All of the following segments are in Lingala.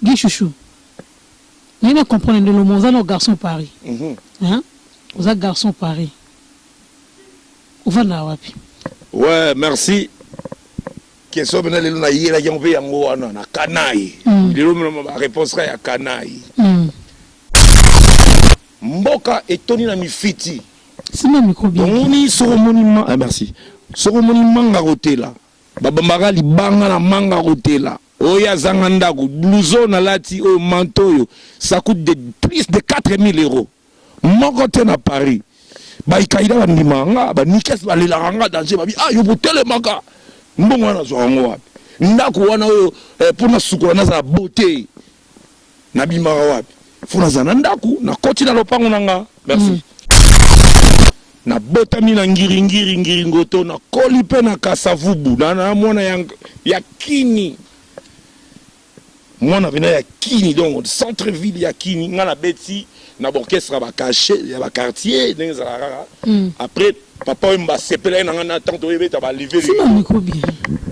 Guy chouchou. Mais na comprendre de l'homme oza no garçon Paris. Mhm. Hein? Oza garçon Paris. Ovanda wapi? Ouais, merci. Question bena lelo na yela yango pe yango wana na kanai. Mm. Lelo mona ba réponse ka ya kanai. Mm. Mboka etoni na mifiti. Sima mikobi. Omoni soko moni ma, ah, merci. Soko moni manga kotela. Babambaka libanga na manga kotela oyo azanga ndaku blouson na lati oyo manteau oyo ça coute de plus de 4000 euros moko te na Paris ba ikaida ba ndimaka nga ba nikes ba lelaka nga danger ba bi ah yo botelemaka mbongo wana nazwaka ngo wapi ndaku wana oyo eh, pona sukola nazala beaute na bimaka wapi fo naza na ndaku na koti na lopango na nga merci mm. na botami na ngiri ngiri ngiri ngoto na koli pe na kasavubu na na mwana ya, ya kini mwana pena ya kini donc centre ville ya kini nga na beti na orchestre ba cache ya ba quartier ndenge ezalaka kaka mm. après papa oyo mba asepelaki na ngai na ntango toyebeta baleve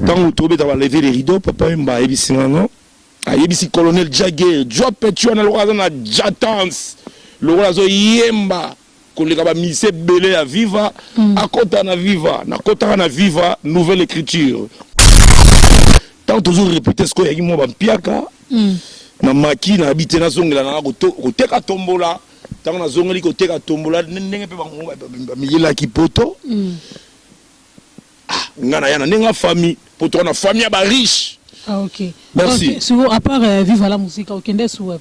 ntango tobeta baleve le rideau papa oyo mba ayebisi nga no ayebisi colonel jage jua petua na lokola aza na jatance lokola azoyemba koleka bamisi ebele ya viva mm. akota na viva nakotaka na viva nouvelle écriture ntango tozo repete sikoyo yaki mwa bampiaka mm. na maki nayebi te nazongela nanga koteka tombola ntango nazongeli koteka tombola ndenge mpe bango bamiyelaki poto mm. Ah, nga na ya na nenga famille, po to na famille ya ba riche. Ah ok. Merci. Okay. Sur à part euh, Viva la musique, okende sur web.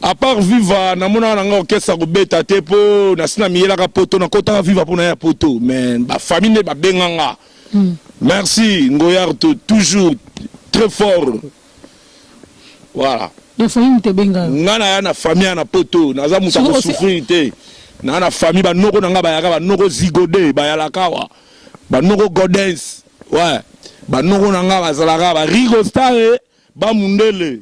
À part Viva, na mona na nga orchestre ko beta te po na sina miyela ka poto na kota Viva po na ya poto, mais ba famille ba benga nga. Mm. Merci Ngoyart toujours très fort. Voilà. Ya famille moto ebenga yo. Nga na ya na famille na poto, naza moto ko souffrir te. Na na famille ba noko na nga ba yaka ba noko zigode, ba yalakawa. Ba noko godens. Ouais. Ba noko na nga ba zalaka ba rigo stare, ba mundele.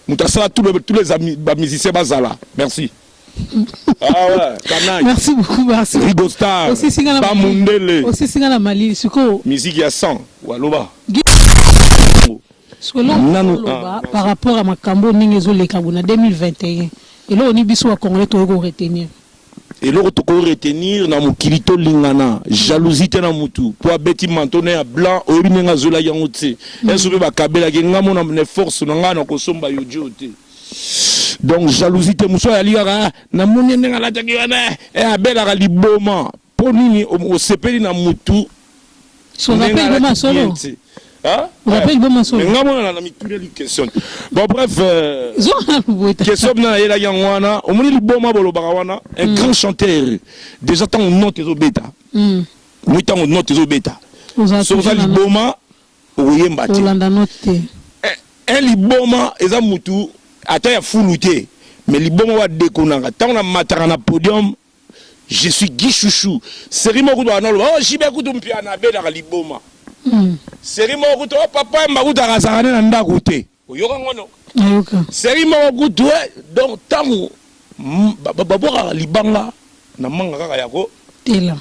Moto asala tous les tous les amis ba musiciens bazala. Merci. Ah ouais, Kanai. Merci beaucoup, merci. Rigo Star. Aussi singa na Mundele. Aussi singa na Mali, suko. Musique ya 100. Waloba. Suko nanu ah, par rapport à makambo ndenge ezo leka bona 2021. Elo ni biso wa Congolais to ko retenir. eloko tokoki retenir na mokili tolingana jalousie te na mutu mpo abeti manto na ya blanc oyebi ndenge azwelaki yango te mm. enso mpe bakabelaki ngai mona na force na ngai na kosomba yo jo te donc jalousie te mosusu ayali kaka ah, namoni ndenge alataki wana eh, eh, abelaka liboma mpo nini osepeli na motu nga monana na mituleli question te bon bref euh, question bina nayelaki yango wana omoni liboma bolobaka wana un mm. grand chanteur déjà ntango note ezobeta moi mm. ntango note ezobeta soki oza liboma okoyemba te Olanda no te. Eh eh liboma eza mutu ata ya fulu te mais liboma ba dekonaka tango na mataka na podium je suis Guy chouchou serie moko kutu baka naloba oh JB kutu mpiana abedaka liboma serie moko kutu oh papa wemba kutu akazaka ne na ndaku te oyoka ngo no nayoka serie moko kutu eh donc tango babwakaka libanga na manga kaka yako tela.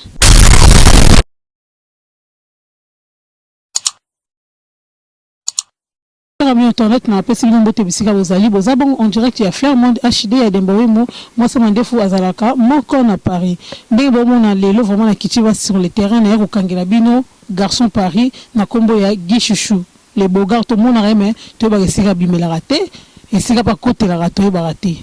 Kaka bino tornet na apesi bino mbote bisika bozali boza bongo en direct ya Flairmond HD ya Demba Wemo mwasi mandefu azalaka moko na Paris ndenge bomona lelo vraiment na kiti basi sur le terrain na ya kokangela bino garçon Paris na kombo ya Guy Chouchou le Bogart tomonaka ye mais toyebaka esika abimelaka te esika pe akotelaka toyebaka te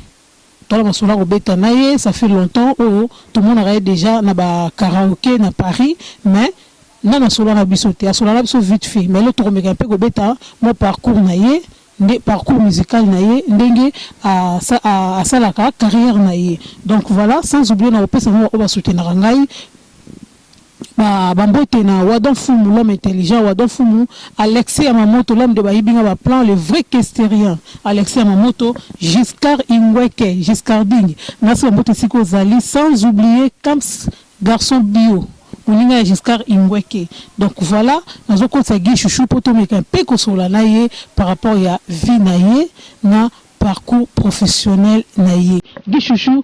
Tala masolo ako beta na ye ça fait longtemps oyo to monaka ye dejà na ba karaoke na Paris mais nanu asola na biso te asola na biso vite fait mais lelo toko meka pe ko beta mua parcours na ye nde parcours musical na ye ndenge asalaka carrière na ye donc voilà sans oublier nako pesa mua ba oyo ba soutenaka ngai Ba ba mbote na Wadon Fumu l'homme intelligent Wadon Fumu Alexis Yamamoto l'homme de bayibi nga ba plan le vrai kesterien Alexis Yamamoto Giscard Ingweke Giscarding nasi ba mbote esika ozali sans oublier Kams Garçon Bio moninga ya Giscard Ingweke donc voilà nazo kotisa Guy Chouchou po tomeka un peu kosolola na ye par rapport ya vie na ye na parcours professionnel na ye Guy Chouchou.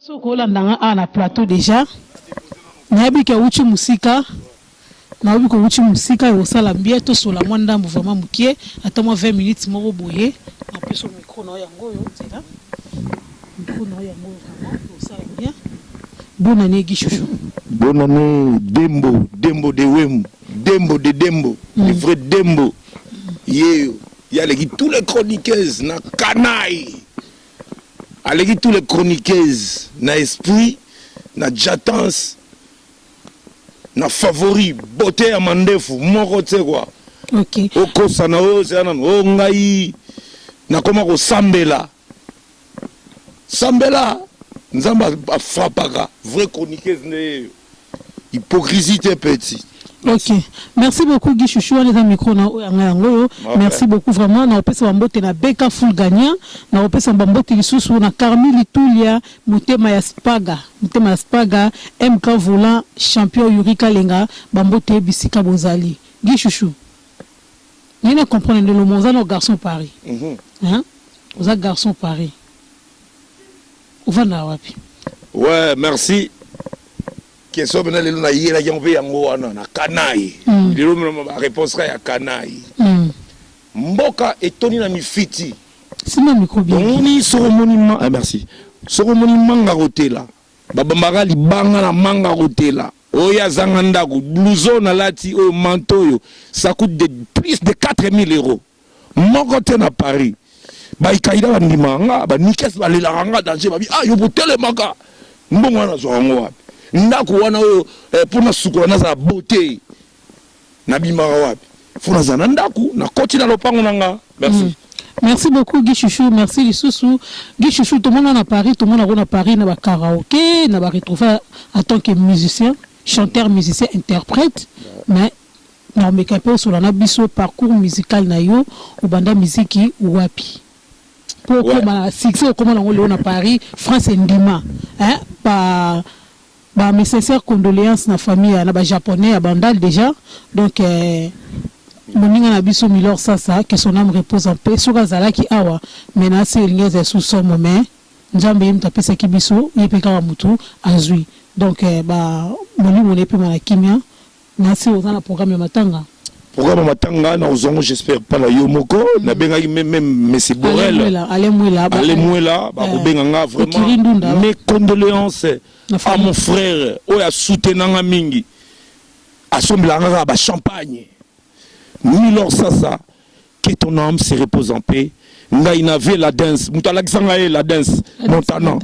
soki olanda nga awa na plateau deja nayebi ke awuti mosika nayebi kowuti mosika ekosala mbie tosola mwa ndambo vraimen mokie ata mwa 20 minutes moko boye na peso micro nao yango oyo nzela micro nao yango oyo vraimen ekosala bien bonne année gi chouchou bonne année dembo dembo de wemu dembo de dembo mm. le vrai dembo mm. yeyo yeah. Ye aleki tous les chroniqueuses na canaille, aleki tous les chroniqueuses na esprit, na jatance, na favori, beaute ya mandefu moko tse kwa. Okay. Okosa na oyo ozela nanu o ngai nakoma kosambela. Sambela nzambe a frappaka. Vrai chroniqueuse nde yeyo. Hypocrisie te petit. Ok, merci beaucoup Guy Chouchou, wana eza micro na oyo yanga yango oyo. Merci beaucoup vraiment, na opesa ba mbote na Beka Full Gagnant, na opesa ba mbote lisusu na Carmi Litulia, motema ya Spaga, motema ya Spaga, MK Volant, champion Yuri Kalenga, ba mbote bisika bozali. Guy Chouchou. Naye na comprendre nde loma oza nao garçon paris hein oza garçon paris ofandaka wapi. Ouais merci question pena lelo na yelaki yango pe yango wana na kanayi mm. lelo mema ba réponse ka ya kanayi mm. mboka etoni na mifiti sima miko bien omoni soko moni ma ah, merci soko moni manga kotela babambaka libanga na manga kotela Oyo azanga ndaku blouson alati oyo manteau oyo ça coute de plus de 4000 euros moko te na paris ba ikaida ba ndimaka nga ba nikes ba lelaka nga danger ba bi ah yo bo telemaka mbongo wana nazwaka ngo wapi ndaku wana oyo eh, pona sukola nazala beaute na bimaka wapi faut nazala na ndaku na koti na lopango na nga merci mm. Merci beaucoup Guy Chouchou, merci Lissousou. Guy Chouchou, tout le monde à Paris, tout le monde à Paris, dans le karaoké, dans le retrouver en tant que musicien, chanteur, musicien, interprète, mais na omeka mpe osolana biso parcours musical na yo obanda miziki wapi mpo okoma succès okoma nango leo na paris france endima hein, pa Ba mes sincères condoleances na famille ya na ba japonais ya bandal dejà donc moninga na biso Milor Sasa que son ame repose en paix soki azalaki awa menace oyo elingi ezali sous somo mais Nzambe ye mutu apesaki biso ye pe kaka mutu azui donc ba molimo na ye epema na kimia. Merci oza na programme ya matanga? Programme ya matanga na ozango j'espère pas na yo moko mm. na bengaki même Messi Borel allez mwela allez mwela ba ko benga nga vraiment mes condoléances à mon frère oyo a soutenir nga mingi asombela nga ba champagne Milor Sasa Que ton âme se repose en paix. ngai na vie la dance moto alakisa ngai ye la dance montana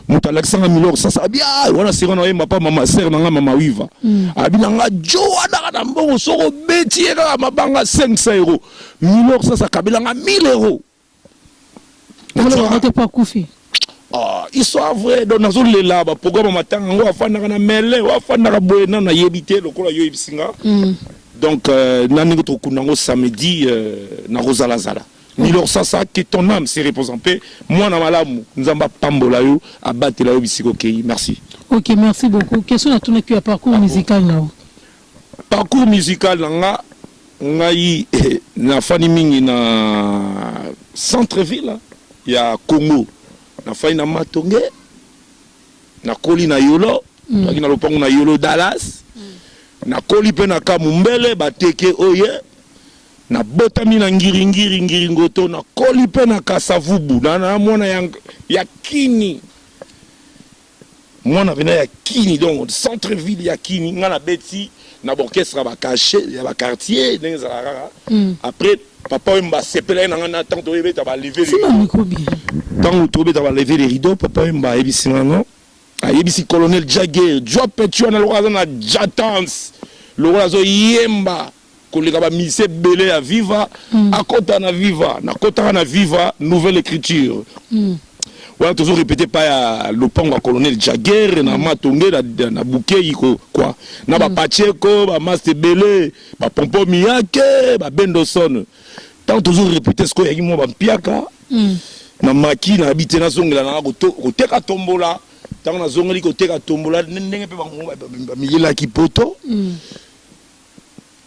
moto alakisa ngai milor sasa abi ah, wana sira na oyemba pa mama sere na ngai mama wiva mm. abi na ngai jo wana kaka na mbongo soki obeti ye kaka mabanga 500 euro milor sasa akabela ngai 1000 euro Ah, histoire vrai donc nazolela baprogramme ya matanga yango afandaka na mele o afandaka boye nano nayebi te lokola yo oyebisi nga mm. donc euh, na ndenge tokokunda yango samedi euh, nakozalazala milor sasa que ton âme se repose en paix mwana malamu nzambe apambola yo abatela yo bisika okeyi merci ok merci beaucoup question natunaki ya parcours ah, musical nao Parcours musical na nga ngai eh, nafani mingi na centre ville ya Congo, nafani na Matonge, nakoli na Yolo mm. toaki na lopango na Yolo Dallas mm. nakoli mpe na Kamumbele bateke oye nabotami na ngiringiri ngiringoto nakoli mpe na Kasavubu na, na mwana ya, ya kini Mwana pena ya kini donc centre ville ya kini nga na beti na orchestre ya ba cache ya ba quartier ndenge ezala kaka après papa wemba asepelaki na nga na tango toye beta ba leve de rideau tango to beta ba leve de rideau papa wemba ayebisi nga no ayebisi colonel jagger jua petua na lokola aza na jatance lokola azo yemba koleka ba musiciens ebele ya viva mm. akota na viva nakotaka na viva nouvelle écriture mm. wana tozo répéter pa ya lopango ya colonel jaguer na mm. matonge na, na bukei ko kwa na mm. ba pacheco ba maste ebele ba pompo miyake ba bendoson ntango tozo répéter sikoyo yaki mwa bampiaka mm. na maki na yabi te nazongela nanga koteka tombola ntango nazongeli koteka tombola ndenge mpe bamiyelaki poto mm.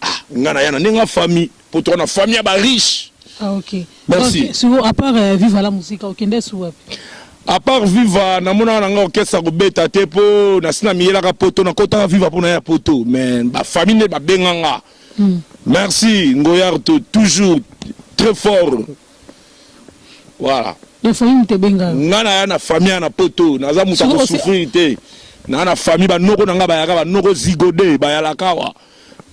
Ah, nga na ya na nenga famille po to na famille ya ba riche. Ah OK. Merci. Okay. Sur à part euh, Viva la musique, okende sur wapi? À part Viva, na mona na nga orchestre ko beta te po na sina miyelaka poto na kota Viva po na ya poto, mais ba famille ne ba benga nga. Mm. Merci Ngoyarto toujours très fort. Voilà. Ya famille moto ebenga yo. Nga na ya na famille na poto, naza moto ko souffrir te. Na na famille ba noko na nga ba yaka ba noko zigode, ba yalakawa.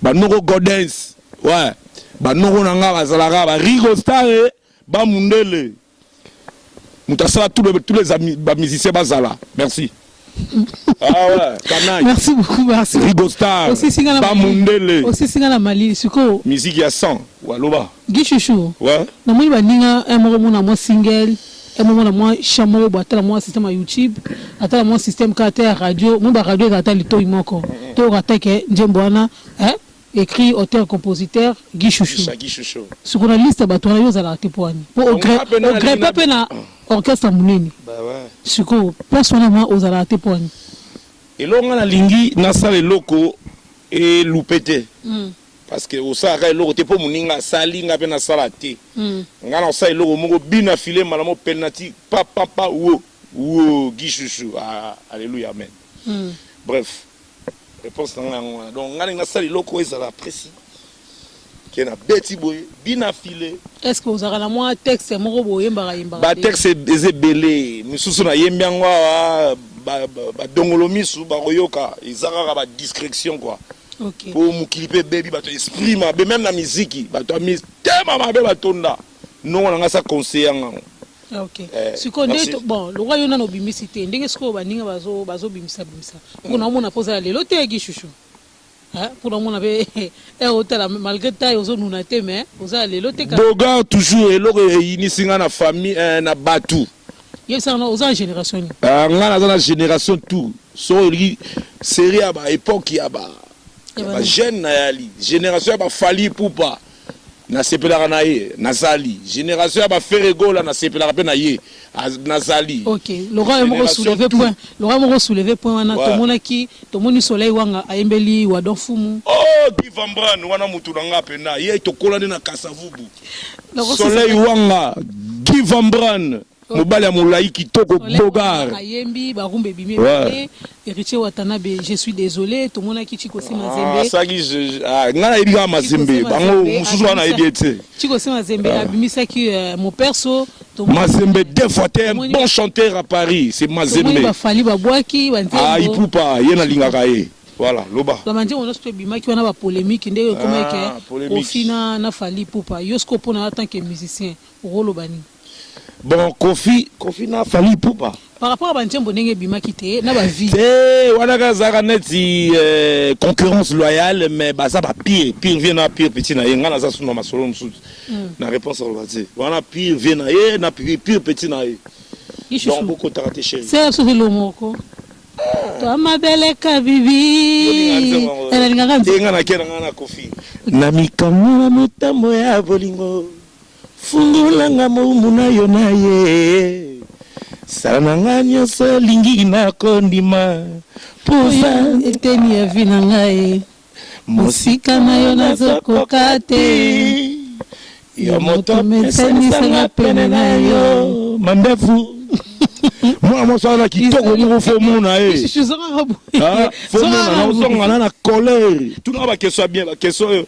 Ba noko godens. Ouais. Ba noko na nga ba zalaka ba rigo stare, ba mundele. Moto asala tous les tous les amis ba musiciens bazala. Merci. Ah ouais, canaille. Merci beaucoup, merci. Rigo Star. Aussi singana Ba Mali. Mundele. Aussi singana Mali. Siko. Musique ya 100. Waloba. Guy Chouchou. Ouais. Na moni ba ninga un moko mona moi single. Un moko na moi chamoro bo atala moi système ya YouTube. Atala moi système ka ta radio. Mo ba radio eza ata litoyi moko. To ka ta ke njembo wana. Hein? Ecrit auteur compositeur Guy chouchou siko na liste ya batu wana yo ozalaka te poani po ogrepe pe na orchestre ya munene siko place wana vraiment ozalaka te poani eloko nga nalingi nasala eloko elupe te mm. parce que osalaka eloko te mpo moninga asali nga mpe nasala te mm. nga na osala eloko moko bina file mbala mo penati papapa wo wo gishushu ah, alleluia amen mm. bref Reponse na nga yango wana. Donc nga ninga sali loko ezala presi. Ke na beti boye, bina file. Est-ce que ozaka na mwa texte moko boyembaka yembaka? Ba texte eze bele, misusu na yembi yango awa ba, ba, ba dongolo misu ba koyoka eza kaka ba discretion quoi. Okay. Po mokili pe bebi bato esprit mabe même na miziki bato ya mitema mabe batonda. noko na ngai sa conseiller nga ngo ok eh, sikoyo nde bon lokola yo nano obimisi te ndenge sikoyo baninga bazobimisa bimisa mpo na omona mpo ozala lelo te yaki shushu mpo na omona mpe eh, otala malgré taille ozonuna te mais ozala lelo te bogar toujours eloko eyinisi nga na famille eh, na bato yebisanga oza na génération nini ah, nga naza na génération tout soki olingi série ya ba époque ya ba ya ba jeune na yali génération ya ba fali pupa Nasepelaka na ye nazali generation ya ba ferre gola nasepelaka pe na ye nazali ok lokola yo moko souleve point lokola moko souleve point wana ouais. tomonaki tomoni soleil wanga ayembeli wadon fumu oh guy van bran wana mutu na nga pena ye tokolani na kasavubu soleil wanga guy van bran mobali ya molayi kitoko bogar ayembi barumba ebimi ebele héritier watanabe je suis désolé tomonaki chiko sima ah, zembe asaki ah, ngai nayebi kaka mazembe bango mosusu wana nayebi ye te chiko sima zembe ah. abimisaki euh, moperso Mazembe deux fois t'es un bon chanteur à Paris c'est Mazembe ba fali ba bwaki ba nzembo ah ipupa ye na lingaka ye voilà loba ba manje on se bimaki wana ba polémique nde yo komeke ofina na fali ipupa yo siko pona en tant que musicien rolo bani Bon Kofi, Kofi na Fally Ipupa. Par rapport à banzembo ndenge ebimaki te na ba vie. Te wana ka zaka neti euh, concurrence loyale mais baza ba pire pire vie na pire petit na ye ngana za suna masolo mususu. Mm. Na réponse à l'obati. Wana pire vie na ye na pire pire petit na ye. Donc beaucoup t'a raté chérie. C'est absolu le moko. Toi ma belle kabibi. Elingaka nzembo. Ngana kera ngana Kofi. Na mikamwa na motambo ya bolingo. Fungola nga moumbu nayo naye Sala na nga nionso olingi na ko ndima Po oza eteni ya vie na nga ye Mosika nayo nazo koka te Yo moto mesanisa nga pene nayo Mandefu mwana mwasi wana kitoko moko fo mona ye fo mona na ozonga na na colere tuna bakestion ya bien bakestion oyo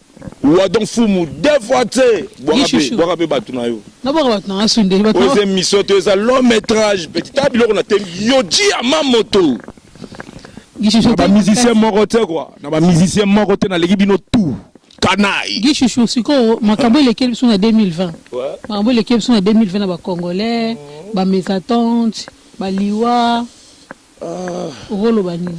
Wadon fumu deux fois tse bwaka pe bwaka pe batu na yo na bwaka batu na nga sundeli batu oyo mission to eza long métrage petit ta biloko na tem yo ji ya ma moto na ba musicien moko tse quoi na ba musicien moko te na leki bino tout kanai gishushou sikoyo makambo elekeli biso na 2020 makambo elekeli biso na 2020 na bacongolais bamesatante baliwa okoloba nini?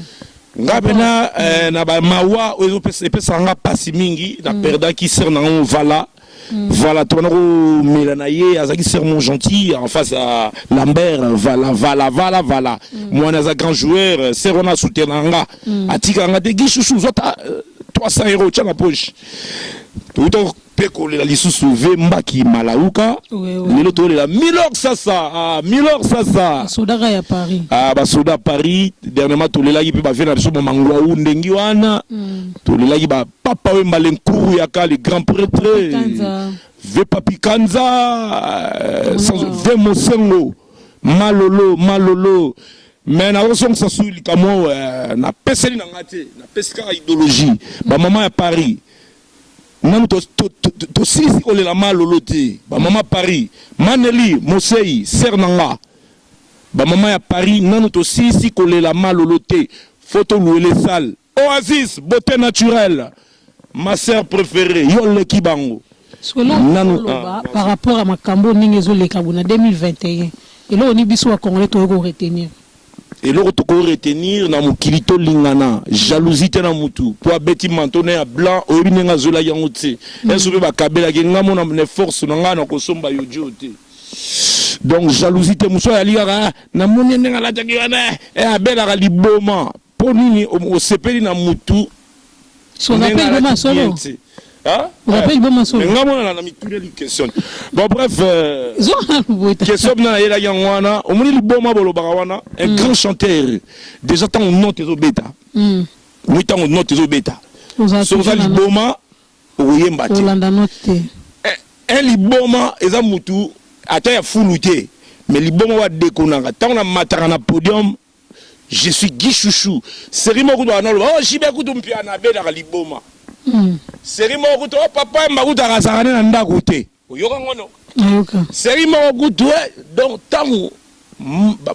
Nga pena na ba mawa oyo epesaka nga pasi mingi na perdaki sœur na nga Vala Vala to na ko mela na ye azalaki sœur mon gentil en face ya Lambert Vala Vala Vala Vala muana aza grand joueur sœur wana a soutenaka nga atikaka nga te Guy chouchou zwa ata 300 euros tia na poche pe kolela lisusu ve mbaki malauka lelo tolela milor sasa ah, milor sasa sodaka ya paris ah, basoda paris dernièrement tolelaki mpe bave na biso mwa mangwau ndengi wana mm. tolelaki bapapa oyo mbale nkuru ya ka le grand pretre ve papikanza euh, ve mosengo malolo malolo me nakozongisa sui likambo euh, napeseli na ngai te napesi kaka idéologie bamama ya paris Nanu to, to, to, to, to silisi kolela ma lolo te. Ba mama Paris, Maneli, Moseyi, sœur na nga. Ba mama ya Paris, nanu to silisi kolela ma lolo te. Faut to louele salle. Oasis, beauté naturelle. Ma sœur préférée, yo leki bango. Solo nanu loba ah, par rapport à makambo ndenge ezo leka bona 2021. Eloko ni biso ba congolais to ko retenir. Eloko toko retenir na mokili to lingana jalousie te na mutu po abeti manteau na ya blanc oyebi ndenge azuelaki yango tse est ce pe ba kabelaki ye nga mona na force na nga nako somba yoji oyo te donc jalousie te mususu azali kaka na moni ye ndenge alataki wana eh abelaka liboma Po nini osepeli na mutu ndenge alati bien te? Rappeille boma solo. Nga mwana na na mituna li question. Bon bref. Euh, Zonga lubuta. Question bina yela yango wana. Omoni liboma bolobaka wana un mm. grand chanteur déjà tango note ezo beta. Mm. Oui tango note ezo beta. Soza liboma okoyemba te. Olanda note te. Eh, eh liboma eza mutu ata ya fulu te. Mais liboma wa dekonanga tango na mataka na podium Je suis Guy Chouchou. Serie moko kutu analo. Oh JB kutu mpiana abelaka liboma. Mm. Serie moko kutu oh papa mba kutu akazaka na ndako te. Oyoka ngono. Ayoka. Serie moko kutu eh donc tangu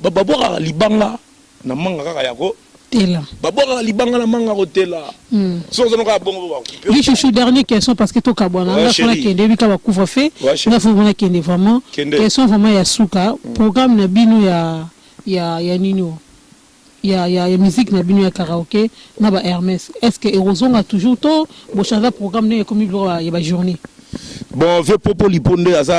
babwaka libanga na manga kaka yako tela babwakaka libanga na manga kotela hmm. soki ozanokaa bongo bakupechuchu dernier question parce que tokabwana nga fona kende ebika bacouvre fe nga fo mona kende vraiment question vraiment ya suka hmm. programme na bino ya ya ya nini oyo ya ya ya musique na bino ya karaoke na ba Hermes est ce que ekozonga toujours to bo changer programme ndenge ekomi biloko ya ba journée Bon, vieux Popo Lipo nde aza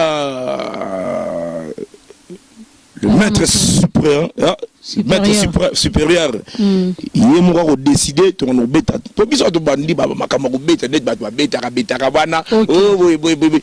le Aza maître moto. supérieur, ah, Supérieur. maître supra- supérieur. Mm. ye moko akodeside tokona kobeta po biso bato bandi ba- makambo ya kobeta neti bato babetaka betaka wana Okay. oh, boye boye boye boye.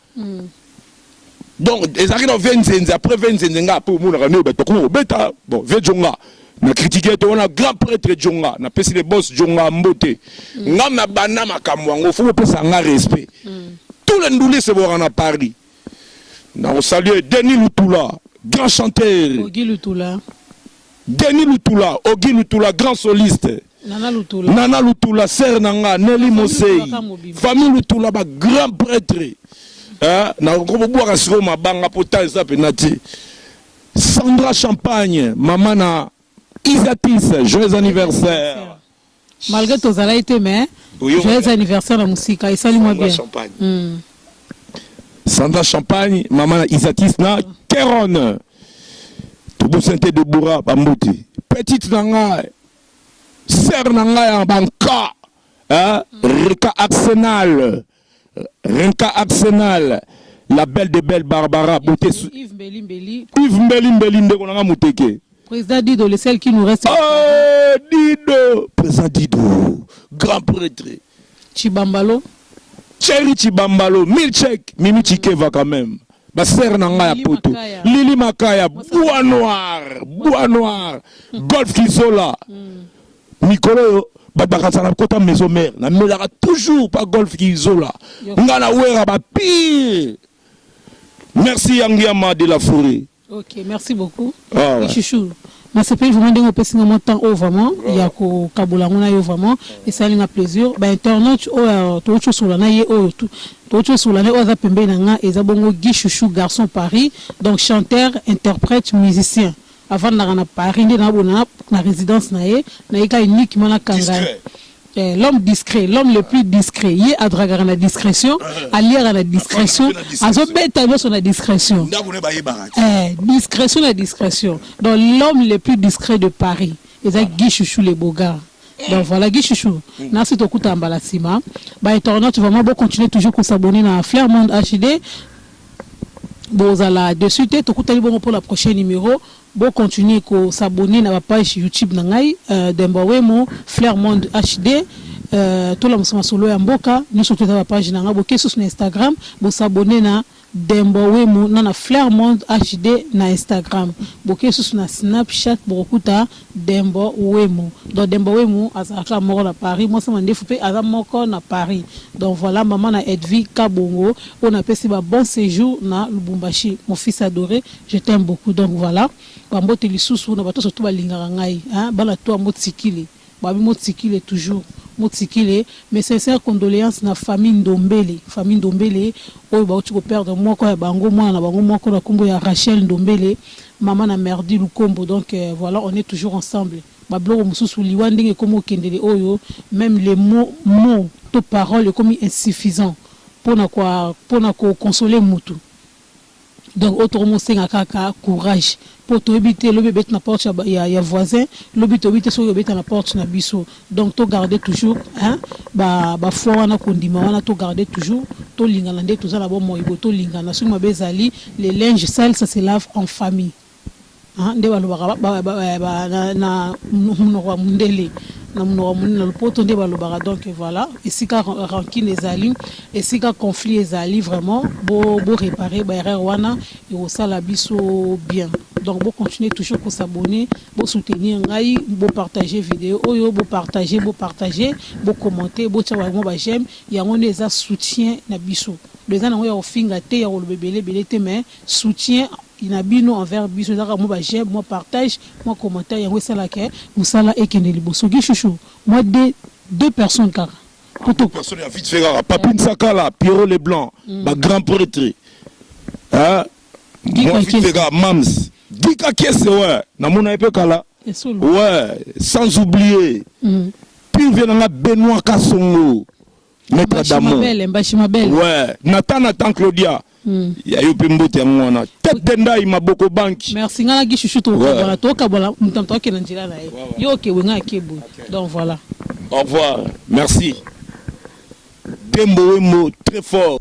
Donc ezalaki na vie nzenze après vie nzenze nga après omonaka nde bato bakoma kobeta bon vie djonga na critique te wana grand prêtre djonga na pesi le boss djonga mbote mm. ngam na banda makambo yango faut bopesa nga respect mm. tous les ndule se bora na Paris na kosalue Denis Lutula grand chanteur Ogi Lutula Denis Lutula Ogi Lutula grand soliste Nana Lutula, Nana Lutula sœur na nga Nelly Mosei, famille Lutula ba grand prêtre eh, na kobwaka siko mabanga po temps eza pena te. Sandra Champagne, mama na Isatis, joyeux anniversaire. Malgré tozalaki te mais joyeux anniversaire na musika esali mwa bien. Champagne. Mm. Sandra Champagne, mama na Isatis na Keron. Tobosente de Boura Bambuti. Petite na nga Sœur na ngai ya banka, hein, Rika Arsenal, Rinka Arsenal, la belle de belle Barbara Beauté. Yves Mbeli Mbeli. Yves Mbeli Mbeli ndeko na ngai muteke. Président Dido, le seul qui nous reste. Oh, Dido, président Dido, grand prêtre. Chibambalo. Cherry Tshibambalo, Milchek, Mimi Tshikeva quand même. Ba sœur na nga ya poto. Lili Makaya, Bois Noir, Bois Noir, Golf Kizola. Mikolo yo babakasa na kota maison mère na melaka toujours pa golf kizola nga na wera ba pire merci yangiama de la forêt Ok, merci beaucoup. Ah, ouais. Chouchou, na sepeli vraiment ndenge opesi nga mwa temps oyo vraiment ya kokabola yango na yo vraiment esali nga plaisir. Ba internautes oyo touti osola na ye oyo tu- touti osola na ye oyo aza pembeni na nga eza bongo Guy Chouchou garçon Paris donc chanteur, interprète, musicien avandaka na Paris nde naabona na, na résidence na ye nayika uniquement na kanga Discret. Eh, l'homme discret, l'homme le plus discret. Ye adragaka na discrétion, aliaka na discrétion, azobeta nyoso na discrétion. ndako na ye bayebaka te Eh, discrétion na discrétion. Donc l'homme le plus discret de Paris, eza Guy Chouchou le Bogar. Donc voilà Guy Chouchou. Nasi tokuta mbala sima. Ba internautes vraiment bo continuer toujours ko s'abonner na Flair Monde HD. Bozala dessus te tokutani bongo pour la prochaine numéro. Bo continuer ko s'abonner na ba pages YouTube na ngai Demboa Wemo, Flair Monde HD, tolamusa masolo ya mboka, nioso tu eza ba pages na nga, boke susu na Instagram bo s'abonner na Demboa Wemo na na Flair Monde HD na Instagram, boke susu na Snapchat bokokuta Demboa Wemo, donc Demboa Wemo azalaka kaka moko na Paris, mwasi ya mandefu pe aza moko na Paris, donc voila maman na Edvie Kabongo oyo napesi ba bon sejour na Lubumbashi, mon fils adore Je t'aime beaucoup donc voilà ba mbote lisusu na batoso tout balingaka ngai hein bana toi motsikile babi motsikile toujours motsikile mes sincères condoleances na famille ndombele famille ndombele oyo bawuti ko perdre moko ya bango mwana na bango moko na kombo ya Rachel ndombele maman na merdi lukombo donc voilà on est toujours ensemble ba biloko mosusu liwa ndenge ekomi okendele oyo meme les mots mots to paroles ekomi insuffisant pona ko pona ko consoler mutu Donc oyo toko mosenga kaka courage po toyebi te lobi ebeti na porte ya ya ya voisin lobi toyebi te soki ekobeta na porte na biso donc to garde toujours hein ba ba foi wana kondima wana to garde toujours tolingana nde toza na bomoi boye tolingana soki mabe ezali le linge sale ça se lave en famille. Haa nde balobaka na munoko ya mundele na munoko ya mundele na lopoto nde balobaka donc voila esika rancune ezali esika conflit ezali vraiment bo reparer ba erreurs wana ekosala biso bien donc bo continuer toujours ko s'abonner bo soutenir ngai bo partager video oyo bo partager bo partager bo commenter botia ba mwa ba j'aime yango nde eza soutien na biso donc eza nango ya kofinga te ya koloba ebele ebele te mais Soutien na bino envers biso eza kaka mwa ba j'aime, mwa partage, mwa commentaire yango esala que musala ekende liboso. Guy chouchou mwa deux deux personnes kaka po to. Personne ya vite fait kaka Papy Nsakala, Pierrot le blanc, ba grands pretres hein mwa vite fait kaka Mam's Guy Kakiese ouais na mona ye pe kala ouais sans oublier pire vieux na nga Benoit Kasongo. Maître Adamo. Mbashi Mabele. Ouais, Nathan Nathan Claudia. Mm. Ya yo pe mbote yango wana. Tête de ndai maboko banki. Merci ngana ki chouchou to ouais. voilà to kabola mutam to kena njila na ye. Ouais, ouais. Yo ke wenga ke boy. Okay. Donc voilà. Au revoir. Merci. Dembo Wembo très fort.